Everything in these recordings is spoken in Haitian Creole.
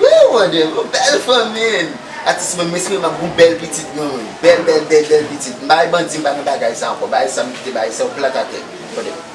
Wouy mwen gen yon bèl fanmi Atis mwen m espere m ap gen yon bèl pitit mwen Bèl bèl bèl bèl pitit M pa bay bandi m pa nan bagay sa ankò Bay sa m kite bay sa yo plat atè Tande.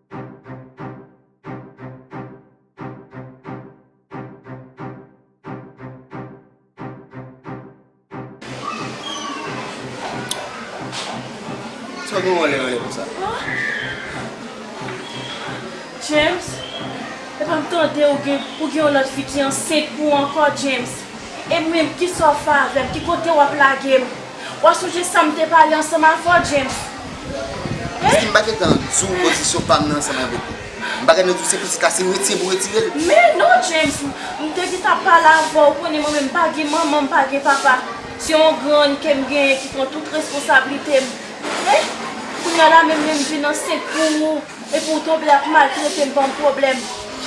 James, epa m tande ou gen ou gen yon lòt fi ki ansent pou ou ankò James, e mwen kisa w fè avè m, ki kote wap lage m. Wa sonje sam te pale ansanm avè w James hein. Sim pa gentan diw pozisyon pam nan ansanm avèk ou m pa gentan diw se pitit la se retire pou retire l. Men non James m te gentan ap pale avè w ou konnen mwen menm m pa gen manman m pa gen papa se yon grann kem genyen ki pran tout responsablite m hein kounya la menm lèm vin ansent pou ou. Epi ou tonbe ap maltrete m banm pwoblèm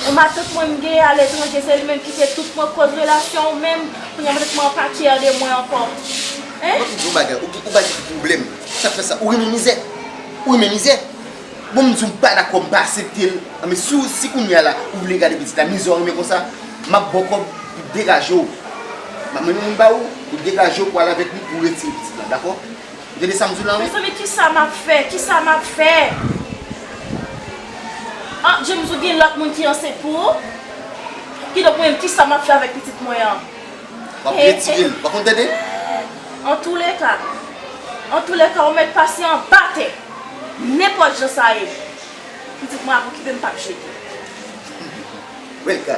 Yon matant mwen m gen aletranje se li menm ki te tout pran koz relasyon w menm Kounya mwen tèlman pa care de mwen ankò Hein. Map diw yon bagay ou pa di ki pwoblèm sa k fè sa ou renmen mizè ou renmen mizè bon m diw m pa dakò m pa asepte l an men si si kounya la ou vle gade pitit la mizè w renmen konsa map baw kòb pou degaje w map mennen moun ba ou pou degaje w pou al avèk li pou retire pitit la dakò. Gade sam diw la wi. Mezanmi kisa map fè kisa map fè ah James ou gen lòt moun ki ansent pou ou kidonk mwen menm kisa map fè avèk pitit mwen an Wap retirel pa konn tete. Antoulèka Antoulèka ou mèt pase anba tè nenpòt jan sa ye pitit mwen ap okipe m pap jete. Wèl ka.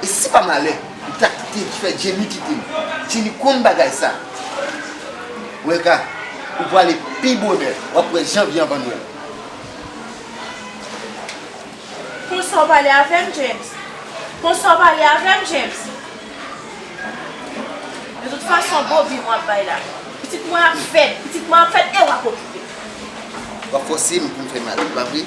E si pa malè m ta kite fè Jenny kite m. Jenny konn bagay sa. Welka, ou prale pi bonè, w ap wè janvye anvan nwèl. Konsa w pale avè m, James? Konsa w pale avè m, James? De tout fason, Bobby mwen ap bay la. Pitit mwen ap fèt, pitit mwen ap fèt e w ap okipe l. W ap fòse m pou m fè mal, pa vre?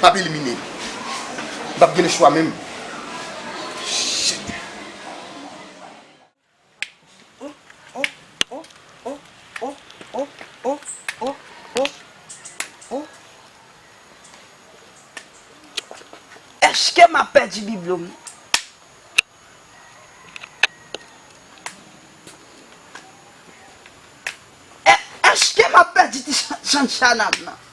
M ap elimine. M pap gen le chwa menm. Shit. Eske m ap pèdi biblo m? Eske m ap pèdi ti chanchana m nan?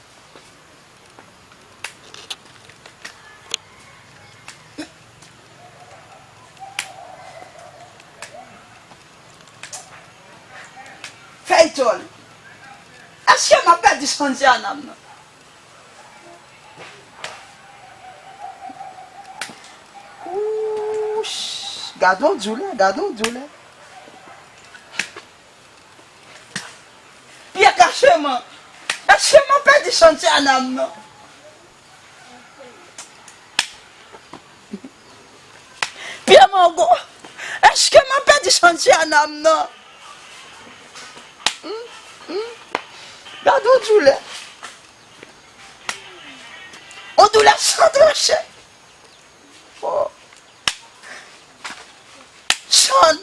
Feyton Eske map pèdi santi a nan mwen. Ooh gadon doulè gadon doulè. Pyè kacheman kacheman pèdi chantye a nan nan. Pyè mango kacheman pèdi chantye a nan nan. Gad yon doulè yon doulè san tranche oh. Chan.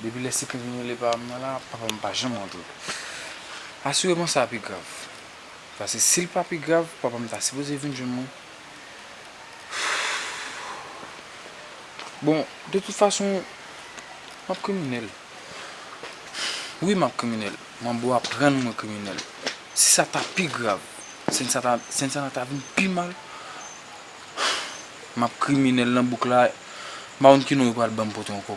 Depi lè se krim yo rele pa m nan la, papa m pa janm rantre. Asireman sa pi grav. Paske si l pa pi grav, papa m ta sipoze vin jwenn mwen. Bon, de tout fason, m ap kriminèl. Wi, m ap kriminèl. Manbo ap rann mwen kriminèl. Si sa ta pi grav, si Santana ta vin pi mal, m ap kriminèl nan bouk la, m pa konn ki non yo pral ban m pote ankò.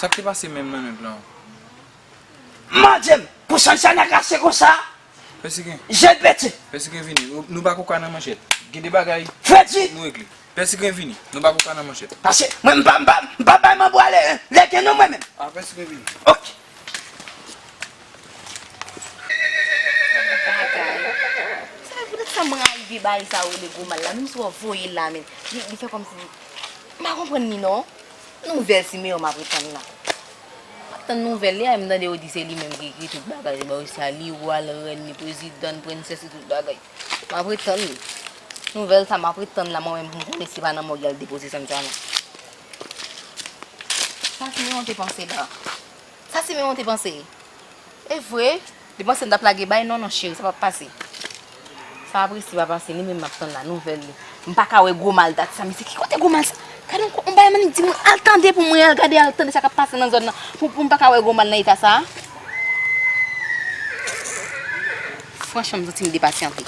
Sak te pase menm nan nèg lan. Manjem pou Shanshana kache konsa Pèsike jel pete. Pèsike vini nou pa koka nan manchèt gen de bagay Freddy. Nou regle. Pèsike vini nou pa koka nan manchèt. Pase mwen m pa m pa bay manbo ale legen non mwen menm. Ah pèsike vini. Ok. Bagay. Sa pou tèt sa m rayi vye bagay sa yo rele gwo mal la menm si wap voyel la men li fè kòmsi m pa konprann li non. Nouvèl Simeon map ret tann la. Map tann nouvel li a em tande yo di se li menm ki ekri tout bagay li ba yo sa li wa l rèn li prezidan l prensès li tout bagay map ret tann li nouvel sa map ret tann la mwen menm poum konnen si pa nan mòg yal depoze sann sa nan sa simeon te panse la sa simeon te panse evre. Li panse m tap lage bay non non cheri sa pap pase sa ap resi pa pase li menm map tann la nouvèl li m paka wè gwo mal dat sa mesye ki kote gwo mal sa gad on on bagay m annik di moun al tande pou mwen al gade al tande sa kap pase nan zòn nan pou pou m paka wè gwo mal nan eta sa franchman m santi m depasyante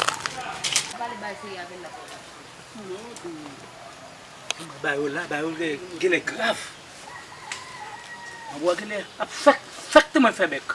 bagay yo la bagay yo genlè grav anbwa genlè ap fèk fèk tanman l fè bèk.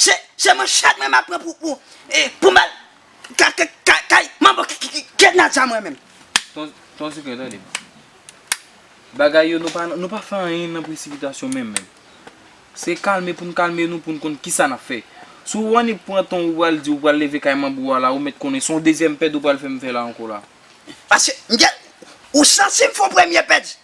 Se se manchèt mwen map pran pou pou pou mal ka ka ka kay manbo ki ki kèt nan zam mwen menm. Ton ton sikren tande. Bagay yo nou pa nou pa fè anyen nan presipitasyon menm menm. Se kalme poun kalme nou poun konn kisa nap fè. Si ou annik pran ton ou pral di ou pral leve kay manbo a la ou mèt konnen son dezyèm pèd ou pral fèm fè la ankò la. Paske mgen ou sansib fon premye pèdi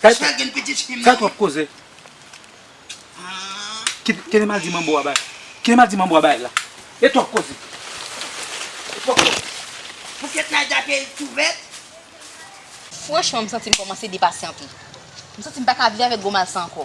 Fè twòp koze. Kinema di manbo a bay. Kinema di manbo a bay la. E twòp koze. E twòp koze. Pou kèt la da peyil tou vèt. Franchman m santi m kòmanse depasyante. M santi m pa ka viv avèk gwo mal sa ankò.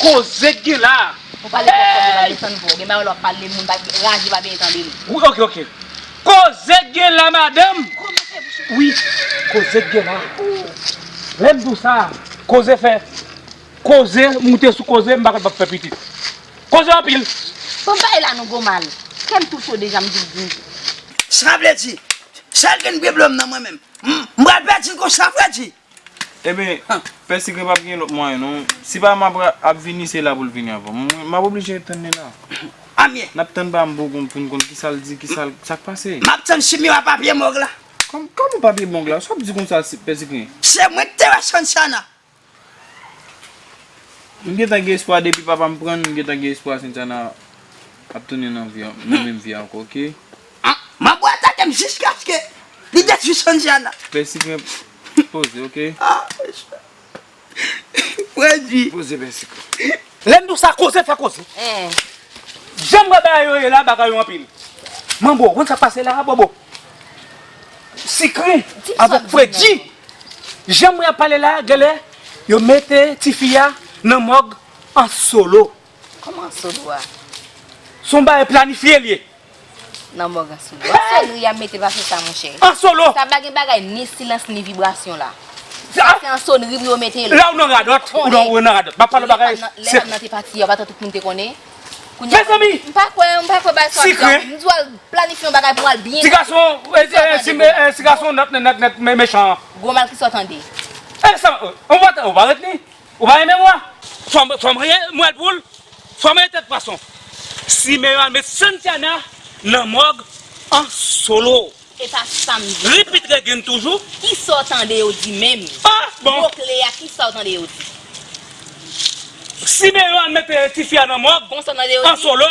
Koze k gen la. Ou pale twòp fò moun pa desann vwa w gen bagay lè wap pale moun pa raje pa byen tande l. Wi ok ok koze k gen la madanm. Wi koze k gen la. Lè m di w sa koze fè koze moute sou koze m pa konn pap fè pitit. Koze anpil. Bon bay la nou gou mal. Kè m tou cho deja m vin di. Sa vle di sèl k gen bgy blom nan mwen menm. M pral pèdi l konsa vre di. Eben pè sikre pap gen lòt mwayen non si pa map ap vini se la poul vini avan mwen map oblije tann li la Amyee. Nap tann pa mbo konn poun konn kisal di kisal sak pase. Map tann chimio a papye mog la. Kòman papye mog la sa wap di konsa pè sikre. Se mwen ki te wè Santiana. M gentan gen espwa depi papam prann m gentan gen espwa Santiana ap tounen nan menm vi ankò ok. Mabou atake m jiskaske li detwi Sandiana. Pèsi mwen poze ok. Pwèdi. Poze pèsi k. Lèm diw sa koze fè koze. Janm wè bagay yo ye la bagay yo anpil. Manbo ou konn sak pase la bobo. Sikren avèk pwèdi. Janm wè yap pale la genlè yo mete tifi a nan mòg an solo. Kòman sou do a? Son bagay planifye li ye. Nan mòg an sou do a. Sonri ya mete pa fè sa monchè. An solo. Sa pa gen bagay ni silans ni vibrasyon la. Sa se an sonri pou yo mete l. La ou nan radòt. Ou nan radòt. Map pale bagay. Lè pam nan te pati ya ou pa ta tout moun te konnen. Mezanmi. M pa kwè m pa kwè bagay sa. Sikre. M di w al planifye yon bagay pou al byen. Ti gason. Ti gason nèt nèt nèt mechan. Gwo mal ki sa w tande. Elè sa. Ou pa ret ni. Ou pa renmen mwen? Fòm rye mwèl poul, fòm rye tèt pwason. Simeyon al met Santiana nan mòg an solo. Se pa sa m di. Repeat again toujou. Kisa w tande yo di menm? Ah bon. Mo kle a kisa w tande yo di? Simeyon al met tifi a nan mòg an solo.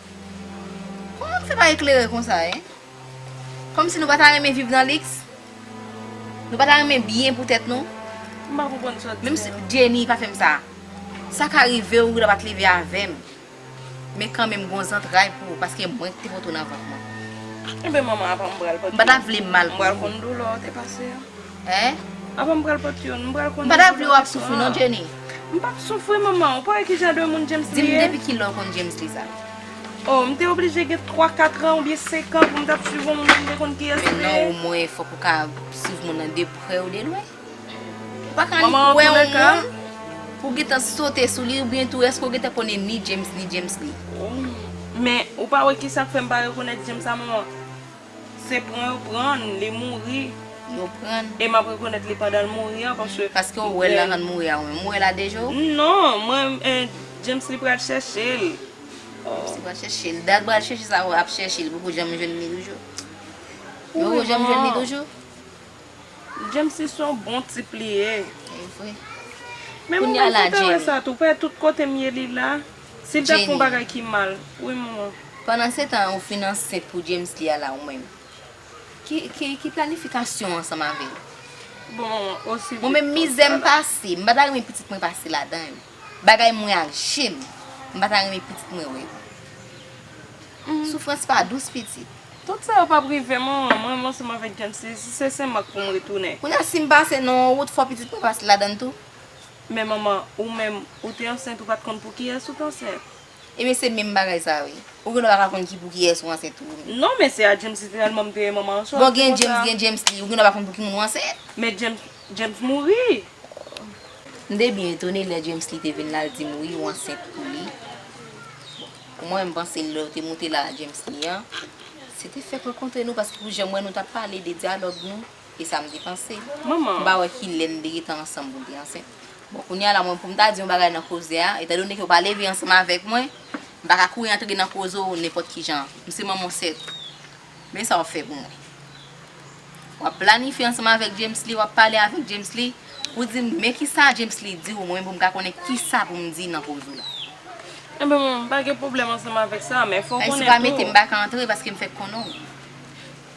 Kouman nou fè pa eklere konsa hein? Kòmsi nou pa ta renmen viv nan liks? Nou pa ta renmen byen pou tèt nou? M pa konprann sa w di menm. Jenny pa fèm sa. Sa ka rive w wi la pat leve avèm. Men kanmenm gon zantray pou ou paske mwen ki te pote w nan vant mwen. Enben manman apa m pral pote w. M pa ta vle mal pou ou. M pral konn doulè w te pase an. Hein? Apa m pral pot youn? M pral konn. M pa ta vle w ap soufri non Jenny. M pap soufri manman, ou pa wè ki jan de moun James li ye? Di m depi kilè w konn James li sa? Oh m te oblije gen 3 4 an oubyen 5 an pou m t ap swiv yon moun pou m te konn kiyès li ye. Men non omwen fòk ou ka swiv moun nan de prè ou de lwen. Ou pa ka annik wè yon moun pou w gentan sote sou li oubyen tou èske ou gentan konnen ni James ni James li? Men ou pa wè ki sa k fè m pa rekonèt James la manman? Se pran yo prann li mouri. Yo prann. E map rekonèt li pandanl mouri an paske. Paske ou wèl nan rann mouri a ou menm. Ou wèl a 2 je ou? Non, mwen James li pral chèchel. James li pral chèchel. Dat bal chèche sa ou ap chèchel poko janm jwenn li toujou? Ou poko janm jwenn li toujou? James li son bon tip li ye. Evre. Kounya la James. Menm mwen kontan wè sa tou. Pè tout kotem ye li la. Si l ta fon bagay ki mal wi manman. Pandan se tan ou fin ansent pou James li ala ou menm. Ki planifikasyon ansanm avèl. Bon manman osi vit konsa la. Mwen menm mizè m pase m pa ta renmen pitit mwen pase ladan yo. Bagay m wè ak je m m pa ta renmen pitit mwen wè yo. Soufrans pa dous pitit. Tout sa yo pap rive manman m renmen w ansanm avèk James li si se senmak pou m retounen. Kounya si m pase nan yon wout fò pitit mwen pase ladan l tou. Men manman ou menm ou te ansent ou pat konn pou kiyès ou t ansent. Ebyen se menm bagay sa wi. Ou genlè paka konn ki pou kiyès ou ansent tou wi. Non men se a James li te telman mte manman an chòk. Bon gen James gen James li ou genlè pa konn pou ki moun ou ansent. Men James mouri. M te byen etone lè James li te vin la l dim wi ou ansent pou li. Bon pou mwen m panse lèw te moute la a James li an se te fèk rankontre nou paske pou janm wè nou tap pale de dyalòg nou. E sa m te panse. Manman. M pa wè ki lè n te gentan ansanm pou m te ansent. Bon, kounye a la, mwen pou m ta di yon bagay nan koze a, etandone ke w pa leve ansanm avèk mwen, m pa ka kouri antre nan koze w nenpòt ki jan. M se manman w sèt. Men sa w ap fè pou mwen. W ap planifye ansanm avèk Djemsly, w ap pale avèk Djemsly, pou w di m men ki sa Djemsly di w, mwen menm pou m ka konnen ki sa pou m di nan koze w la. Enben, manman, m pa gen pwoblèm ansanm avèk sa, men fò w konnen tou. Ayiti pa mete m pa ka antre paske m fèk konnen w.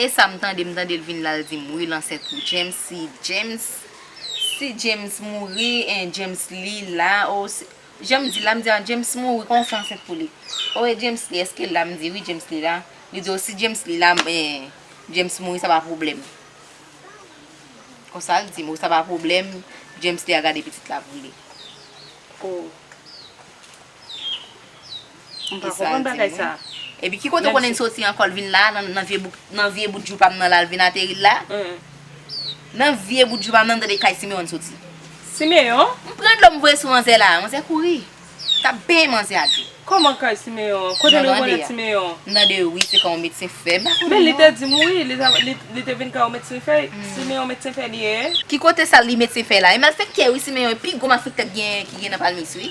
Esam tande m tandel vin lal dim wi l ansent pou James si James si James mouri en James li la oh si janm di la m di an James mouri koman w fè ansent pou li oh e James li eskel la m di wi James li la li di oh si James li la en James mouri sa pa pwoblèm konsa l dim oh sa pa pwoblèm James li a gade pitit la pou li oh. M pa konprann bagay sa. Epi ki kote konnen soti ankò l vin la nan vye bout joupa m nan la l vin ateri l la? Nan vye bout joupa m nan m tande kay Simeon soti. Simeon? M pran dlo m voye sou manzè la. Manzè kouri. M tap benyen manzè a dlo. Kòman kay Simeon? Kote nou konnen Simeon? M tande wi se kay yon medsen fè. M pa konnen non. Men li te di m wi li te vin kay yon medsen fè. Simeon medsen fè li ye? Ki kote sa li medsen fè la? E malfèktè wi Simeon e pi gwo malfèktè ki gen nan palmis wi.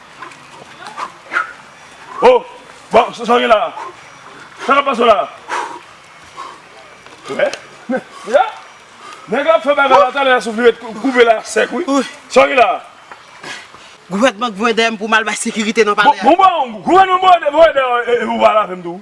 Oh! Bon, sa w gen la a? Sa k ap pase w la a? Wè? Deja? Nèg la ap fè bagay la talè a souf li ret koupe la sèk wi. Sa w gen la a? Gouvènman k voye dèyè m pou m al bay sekirite nan palè a. Bon, bon, gouvènman voye dèyè w e pou w pa al avè m tou.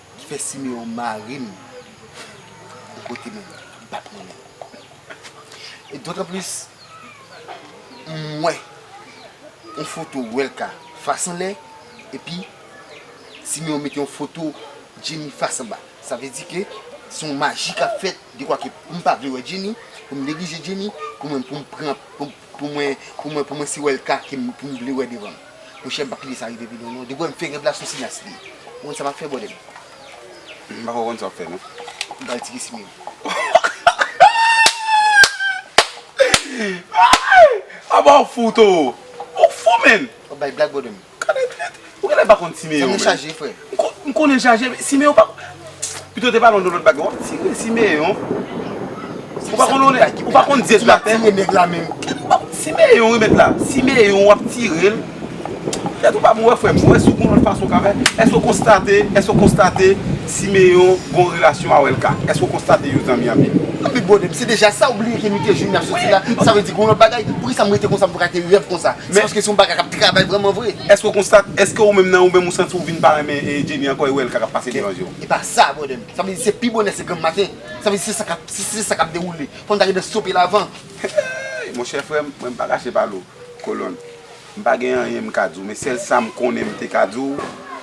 ki fè Siméon mari m bò kote mwen m pa t renmen l. E dotanplis m wè yon foto Welca fas anlè epi Siméon mete yon foto Jenny fas anba. Sa vle di ke se yon maji k ap fèt dekwa ke pou m pa vle wè Jenny, pou m neglije Jenny, pou mwen pou m pran pou m. Pou mwen pou mwen pou mwen si wèl ka kim pou m vle wè devanm monchè m pa kite sa rive vin non non depi wè m fè rèv la sou sinas li ye ou konn sa map fè bòdèm m pako konn sa wap fè non m pral tire simen m. Aba ou fou toro ou fou menn. Wap bay blag bòdèm. Gade klèt, ou genlè pa konn Simeon menm. Zanmi chaje frè. M konnen l chaje men Simeon pa konn Pito w te pale w de lòt bagay wap tire Simeon Ou pa konn lòt ou pa konn Dye sou latè Ou ap tire nèg la menm Simeon remèt la Simeon wap tire l Tèt ou pa bon wè frè m wè si w gon lòt fason w ka fè Èske w konstate èske w konstate Simeon gon relasyon a Welca Èske w konstate yo zanmi anpil An bi bòdè m se deja sa ou bliye ke nou te jwenn n ap sòti la Sa vle di gon lòt bagay Poukisa m rete konsa m paka te rèv konsa. Se paske se yon bagay kap travay vreman vre. Eske ou konstate, eske ou menm nan ou menm ou santi ou vin pa renmen Jenny ankò e ou wè lka kap pase devan je w? E pa sa brother m. Sa vle di se pi bonè se granm maten. Sa vle di se sa kap si se sa kap dewoule. Fò n ta gentan stope l avan. Hey monchè frè m, mwen m pa kache pa nou kolonn. M pa gen anyen m ka di w men sèl sa m konnen m te ka di w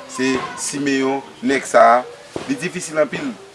se Siméon nèg sa li difisil anpil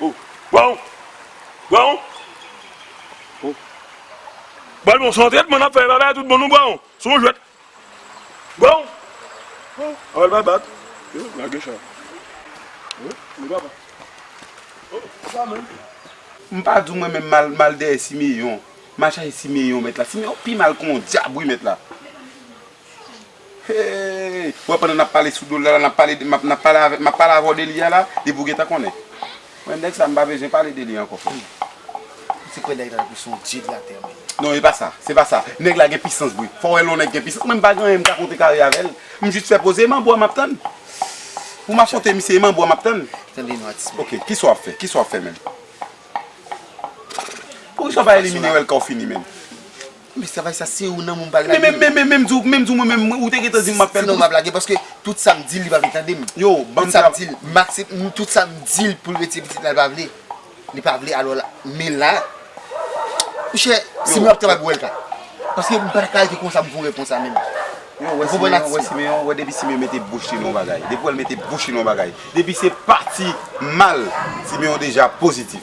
Oh, bon, bon. Oh. Bon, bon, son trètman nan fè, baba tout bon nou bon, son jwèt. Bon. Oh, aval pa bat. Yo, la gèch la. Oh, nou pa bat. Oh, sa men. M pa di w mwen menm mal, mal dèyè Siméon. M al chache Siméon mèt la. Siméon pi mal kon dyab wi mèt la. Hee wè pandan nap pale sou dol la la nap pale de map nap pale avè map pale avèw de li a la epi ou gentan konnen mwen nèg sa mpa bezwen pale de li ankò frèm. Ou te kwè nèg la te son dye de la tè menm. Non epa sa se pa sa nèg la gen pisans vre fò wè lè yon nèg gen pisans mwen mpa gen anyen mka kontre kare avèl m jis fè poze e manbo a map tann pou m afronte misye e manbo a map tann Tande non atis mwen. Ok kisa wap fè kisa wap fè menm Poukisa w pa elimine yo lè kaw fini menm. Men travay sa se ou nan moun pral lage. Men men menm di w menm di w mwen menm ou te gentan di m map fè l tou. Sinon map lage paske tout sa m di l li pa vle tande m. Yo banm travay. Tout sa m di l m aksep tout sa m di l pou l retire pitit la li pa vle. Li pa vle alò la men la Mon chè si mwen ap travay pou Elka paske m pata ka rete konsa m pou rete konsa menm. Yo ou wè Simeon ou wè Simeon ou wè depi Simeon mete bouch li nan yon bagay depi w wè l mete bouch li nan yon bagay depi se pati mal Simeon deja pozitif.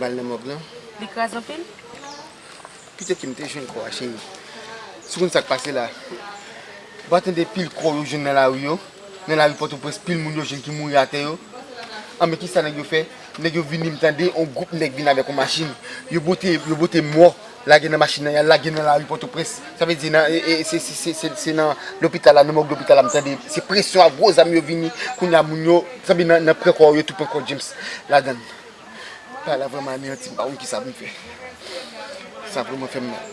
Bal nan mòg lan. Li kras anpil? Kite kem te jwenn kò a cheri. Si w konn sak pase la. Ou pa tande pil kò yo jwenn nan lari yo? Nan lari pòtoprens pil moun yo jwenn ki mouri atè yo? Anben kisa nèg yo fè? Nèg yo vini m tande yon gwoup nèg vin avèk yon machin. Yo bwote mò. Lage nan machin nan, y al lage nan lari Pòtoprens. Sa vle di nan, se nan lopital la, nan mòg lopital la m tande, se presyon ak gwo zam yo vini. Kounya moun yo, sa vle di nan pran kò yo, yo tou pran kò James ladan l. Bagay la vrèman aneyanti m, m pa konn kisa pou m fè. Sa vrèman fè m mal.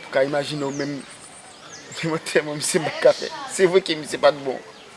Ou ka imajine ou menm, mwen tèlman misye m pa t ka fè. Se vre ke misye pa t bon.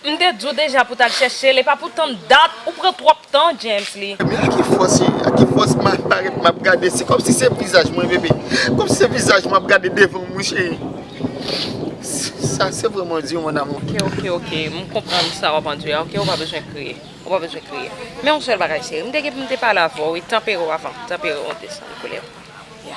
M te di w deja pou tal chèche l epa pou tann dat ou pran twòp tan Djensly. Men a ki fòs e a ki fòs ma parèt map gade se kòmsi se vizaj mwen bebe kòmsi se vizaj mwen ap gade devan m wi cheri sa se vrèman di mon amour. Ok ok ok m konprann sa wap andire a ok ou pa bezwen kriye ou pa bezwen kriye men yon sèl bagay cheri m te gen pou m te pale avè w wi tanpere w avan tanpere w desann koulè w ya.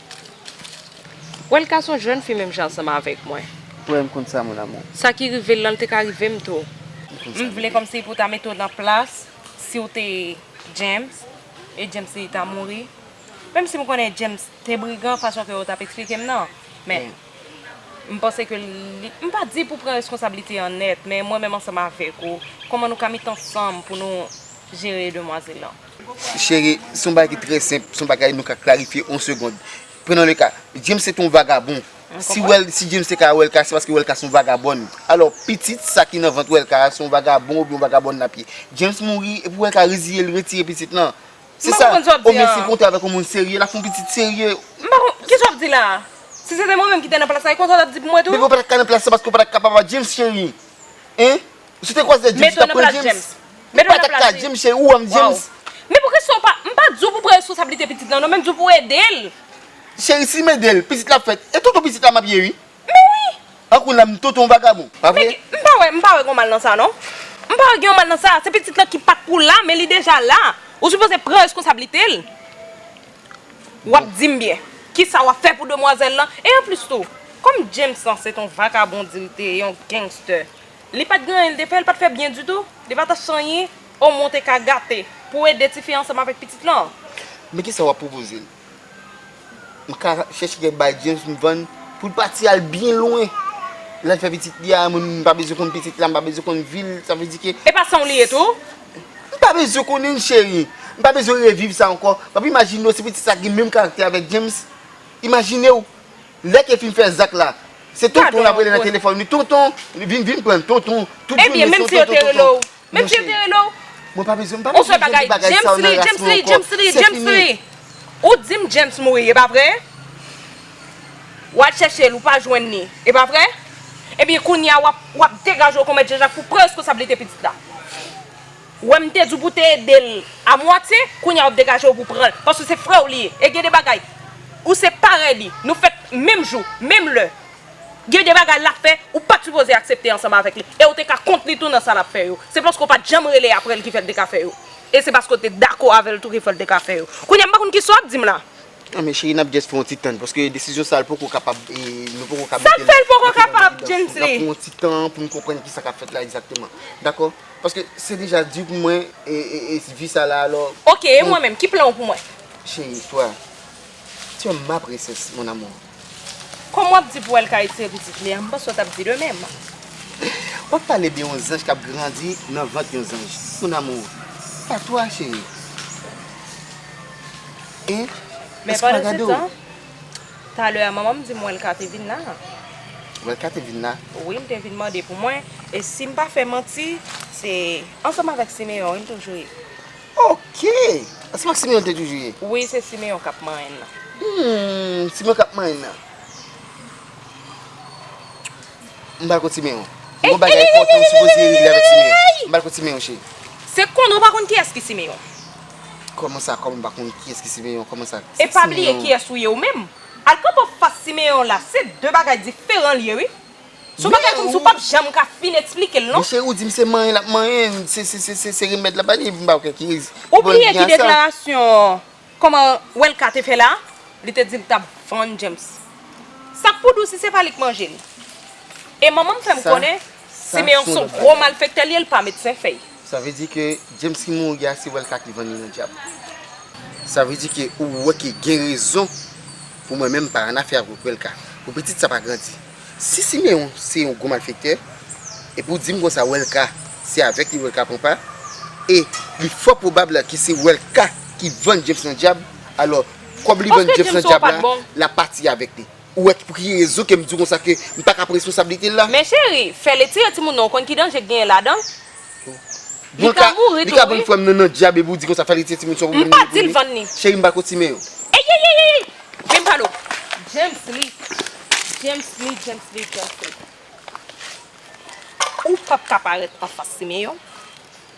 Wè l ka son jèn fi menm jan ansanm avèk mwen. Wè m konn sa mon amour. Sa ki rive l lan l te ka rive m tou. M vle kòmsi pou ta mete w nan plas si w te James e James li ta mouri. Menm si m konnen James te brigan fason ke w t ap eksplike m nan. Men m panse ke li m pa di pou pran reskonsablite an nèt men mwen menm ansanm avèk ou kòman nou ka met ansanm pou nou jere demwazèl lan. Cheri, se yon bagay ki trè senp, se yon bagay nou ka klarifye yon segond. Prenons le ka, James se te yon vagabon. Si Wel, si James te ka Welka, se paske Welka se yon vagabòn. Alò, pitit sa ki nan vant Welka a, se yon vagabon oubyen yon vagabòn lap ye. James mouri, epi Welka reziye l, retire pitit lan. Se sa. M pa konprann sa w ap di an. O men si l kontre avèk yon moun serye, lap fè yon pitit serye. M pa konprann, kisa w ap di la a? Si se te mwen menm ki te nan plas la, e konsa w tap di pou mwen tou? Bebe ou pa ta ka nan plas sa paske ou pa ta ka papa James cheri. Hein? Si w te kwaz lè James ou tap pran James Ou pa tap ka dim se ou an James. Men pou kisa ou pa, m pa di w pou pran responsablite pitit lan non men m di w pou w ede l. Cheri si m ede l pitit la ap fèt e tonton pitit la map ye ui. Men wi. An kou nan m tonton vagabon pa vre. M pa wè, m pa wè gon mal nan sa non. M pa wè gen yon mal nan sa, se pitit lan ki pat pou la men li deja la. Ou sipoze pran reskonsablite l. Wap dim byen. Kisa wap fè pou demwazèl lan e anplis tou kòm James lan se ton vagabon di l te e yon gangster. Li pat gen anyen li te fè, li pat fè byen ditou, li pa ta chanyen o mwen te ka gate pou ede tifi ansanm avèk pitit lan. Men kisa wap pwopoze l? M ka chèche kèk bagay James m vann pou l pati al byen lwen lal fè pitit li a, mwen menm m pa bezwen konn pitit la, m pa bezwen konn vi l, sa vle di ke. E pa sanw li ye tou? M pa bezwen konnen l cheri, m pa bezwen reviv sa ankò, wap imajine w se pitit sa ki gen menm karaktè avèk James? Imajinew! Lè ke fin fè zak la. Se tonton lap rele nan telefòn li tonton vin vin prann tonton tout jounen se tonton tonton tonton monchè mwen pa bezwen mpa bezwen jwenn ti bagay sa yo nan ras mwen ankò se fini ou dim James mouri epa vre wal chèche l ou pa jwenn li epa vre ebyen kounya wap degaje w kon mèt Janjak pou pran reskonsablite pitit la. Ou wè m te di w pou w te ede l a mwatye, kounye a w ap degaje w pou w pran l paske se frè w li ye. E gen de bagay ou se parèy li, nou fèt menm jou, menm lè. Gen de bagay l ap fè ou pa t sipoze aksepte ansanm avèk li e w te ka kont li tou nan sa l ap fè yo. Se paske w pa t janm rele aprè l ki fè l te ka fè yo. E se paske w te dakò avè l tou ki fè l te ka fè yo. Kounye a m pa konn kisa w ap di m la. Nan men cheri nap just fè yon ti tann paske desizyon sa l poko kapab nou poko ka Sak fè l poko kapab James Lee? Nap pran yon ti tan pou nou konprann kisa kap fèt la egzakteman dakò paske se deja di pou mwen vi sa la alò Ok e mwen menm ki plan w pou mwen? Cheri toi tu as ma princesse mon amour. Kòm wap di pou wèl ka etire pitit li a m panse w tap di de mèm. Wap pale de yon zanj kap grandi nan vant yon zanj mon amour pa toi chéri hein Men pandan se tan talè a manman m di m wèlka te vin la a. Wèlka te vin la? Wi li te vin mande pou mwen e sim pa fè manti se ansanm avèk Simeon wi m toujou ye. Ok! Se pa Simeon te toujou ye? Wi, se Simeon k ap manyen nan. Humm, Simeon k ap manyen nan. M pral kot Simeon. Gon bagay enpòtan ou sipoze regle avèk Simeon. M pral kot Simeon cheri. Se kòmn ou pa konn kiyès ki Simeon? Kòman sa kòmn m pa konn kiyès ki Simeon? Kòman sa? E pa bliye kiyès ou ye ou menm. Al kanpe anfas Simeon la se de bagay diferan l ye wi. Son bagay kòmsi ou pap janm ka fin eksplike l non. Monchè ou di m se manyen l ap manyen, se remèd l ap bali, m pa kwè ki remèd. Ou bliye ki deklarasyon kòman Welca te fè la, li te di l t ap vann James. Sak pou di w si se pa li k manje l? E manman m fè m konnen Siméon son gwo malfèktè l ye, l pa medsen fèy. Sa vle di ke James ki mouri a se wèl ka ki vann li nan dyab. Sa vle di ke ou wè ke gen rezon pou mwen menm pa annafè avk wèl ka. Pou pitit sa pa grandi. Si Siméon se yon gwo malfektè, epi ou dim konsa wèl ka se avèk li wèl ka pran pa, e li fò pwobab ke se wèl ka ki vann James nan dyab, alò kòb li vann James nan dyab la, lap pati avèk li. Ou wè pou ki rezon ke m di w konsa ke m pa ka pran responsablite l la? Men cheri, fè letire timoun nan ou konn ki danje k genyen ladan l? Li ka mouri tou wi. Li ka vann frè m nan nan dyab epi ou di konsa fè letire timoun sa ou menm li pou li? Cheri m pa ko timoun yo. Eyeyeyeyey! Men m pa nou. Djemsly! Djemsly! Djemsly! Djemsly! Ou pap ka parèt anfas Simeon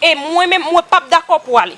e mwen menm mwen pap dakò pou ale.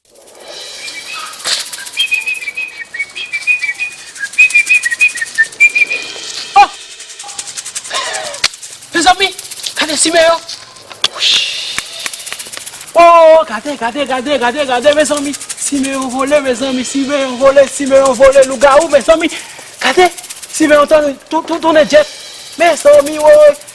Mezanmi gade simen yo Ohh gade gade gade gade gade mezanmi simen yo vole mezanmi simen yo vole simen yo vole lougawou mezanmi gade simen yo tounen djèt mezanmi woy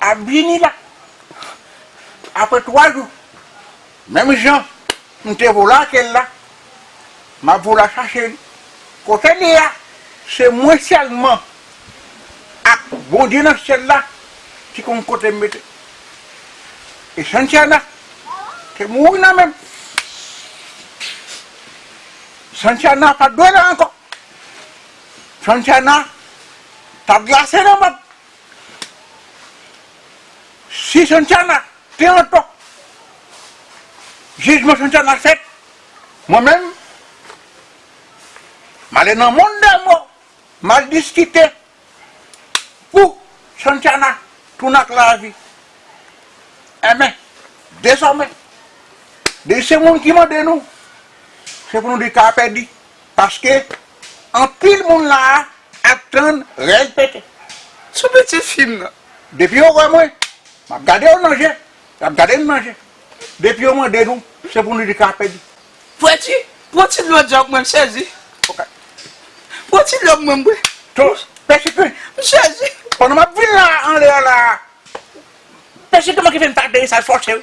ap vini la aprè 3 jou menm jan m te vola ak el la m ap vola chache li kote li a se mwen sèlman ak Bondye nan syèl la ki konn kote m mete e Santiana te mouri nan menm Santiana pat dwe la ankò Santiana tap glase nan menm. Si Santana te antò, jijman Santana fèt, mwen menm, m ale nan monn dè mò, m al diskite pou Santana tounen ak lavi. Enben, dezòmè, depi se moun ki mande nou, se pou nou di ka pèdi. Paske anpil moun la a ap tann règ pete. Sou pitit fi m nan. Depi yo wè mwen, m ap gade yo nan je, y ap gade m nan je. Depi yo mande nou, se pou nou di kapèdi. Pwenti, pran ti dlo djanm mwen, m sezi. Ok. Pran ti dlo pou mwen m bwe. To, pèsipè. M sezi. Pandan m ap vin la a, anlè a la a, pèsipè mwen ki fè m ta deye sa l fòse wi.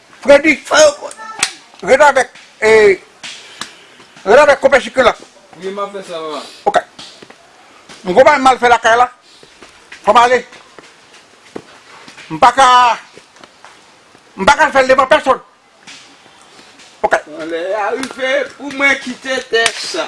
Fredi sa yo ret avek ret avek konpè chikri la. Wi map fè sa papa. Ok m gon bagay mal fè lakay la fòm ale m paka m paka fèl devan pèsòn ok. Bon lè a rive pou mwen kite tè sa.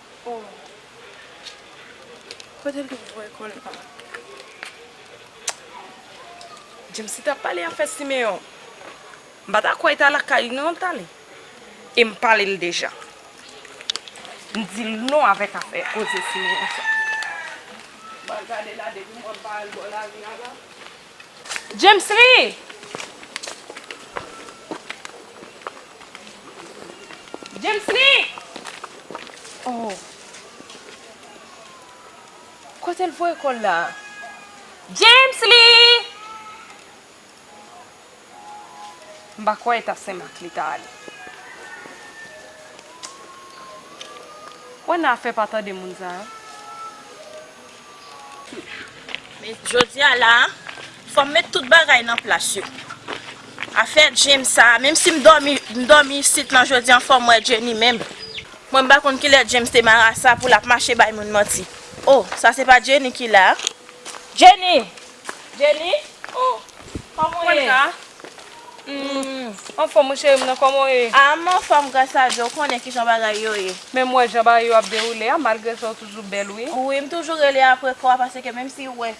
Oh kotel te voye kòl la. James li tap pale afè Siméon. M pa ta kwè li ta lakay li non li tale. E m pale l deja. M di l non avèk afè koze Siméon sa. Mwen gade la depi mwen pa al bò lari a la. Djemsly! Djemsly! Oh! Kote l voye kò l la a? Djemsly! M pa kwè e ta Senmak li ta ale. Ou wè nan afè pa tande moun sa yo. Men jodi a la a, fò m met tout bagay nan plas yo. Afè James sa a, menmsi m dòmi, m dòmi isit lan jodi an fò m wè Jenny menm. Mwen m pa konn kilè James te marasa pou l ap mache bay moun manti. O! Sa se pa Jenny ki la a? Jenny! Jenny oh kòman w ye? Humm anfòm wi cheri m nan kòman w ye? Ah m anfòm gras a Dye w konnen kijan bagay yo ye. Men m wè jan bagay yo ap dewoule a malgre sa w toujou bèl wi. Wi m toujou rele apre kò a paske menm si w wè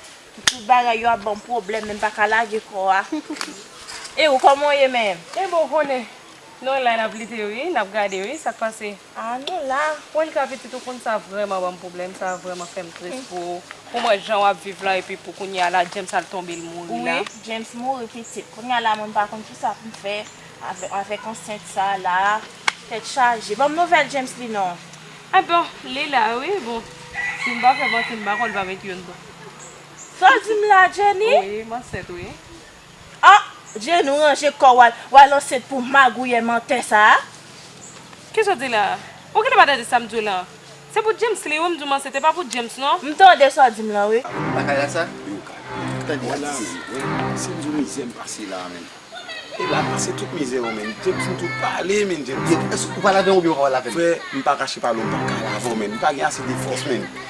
tout bagay yo ap banm pwoblèm men m paka lage kò a E ou kòman w ye menm? Ebyen w konnen nou la n ap lite wi n ap gade wi sa k pase. Ah nou la. Juanca pitit ou konn sa vrèman banm problèm sa vrèman fèm tris pou ou pou mwen jan wap viv la epi pou kounya la James al tonbe l mouri la. Wi James mouri pitit kounya la mwen pa konn kisa poum fè avèk ansent sa la tèt chaje banm nouvèl James li non. Ah bon li la wi bon sim pa fè manti m pa konn l pa met youn tou. Sa w di m la Jenny? Wi m ansent wi. Ah Djenou ranje kòw wal wal ansent pou magouyè mantè sa a. Kisaw di la? Ou genlè pa tande sam diw lan? Se pou James li wi m diw m ansent e pa pou James non. M tande sa w dim lan wi. Lakay la sa? Wi ou ka tande sa di si. Wè si m diw mizè m pase la a menn. E la pase tout mizè yo menn. James m tou pale menn James. Ou pale avèm oubyen ou pa pale avèm? Frè m pa kache pale w m paka la avèw menn. M pa gen ase de fòs menn.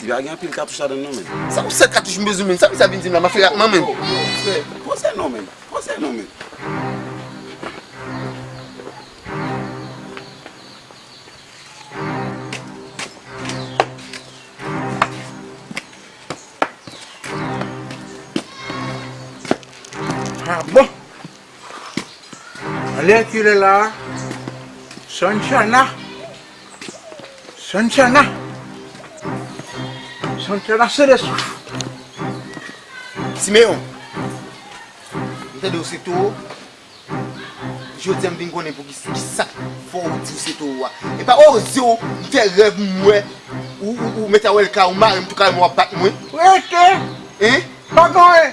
Li pa gen anpil katouch ladann non menn. Sa pou 7 katouch m bezwen menn. Sa misye ap vin dim la ma fè ak mwen menn. Yo yo frè pose non menn. Pose non menn. Ha bon. Alè kilè la a. Sanchana. Santiana Santiana sele souf Simeon M tande ou se towo Jodi a m vin konnen pouki kisa k fè w di w se towo a E pa oze w m fè rèv m wè ou mèt a wè lkay ou mare m tou kay mwen w ap bat mwen Rete Pa gen anyen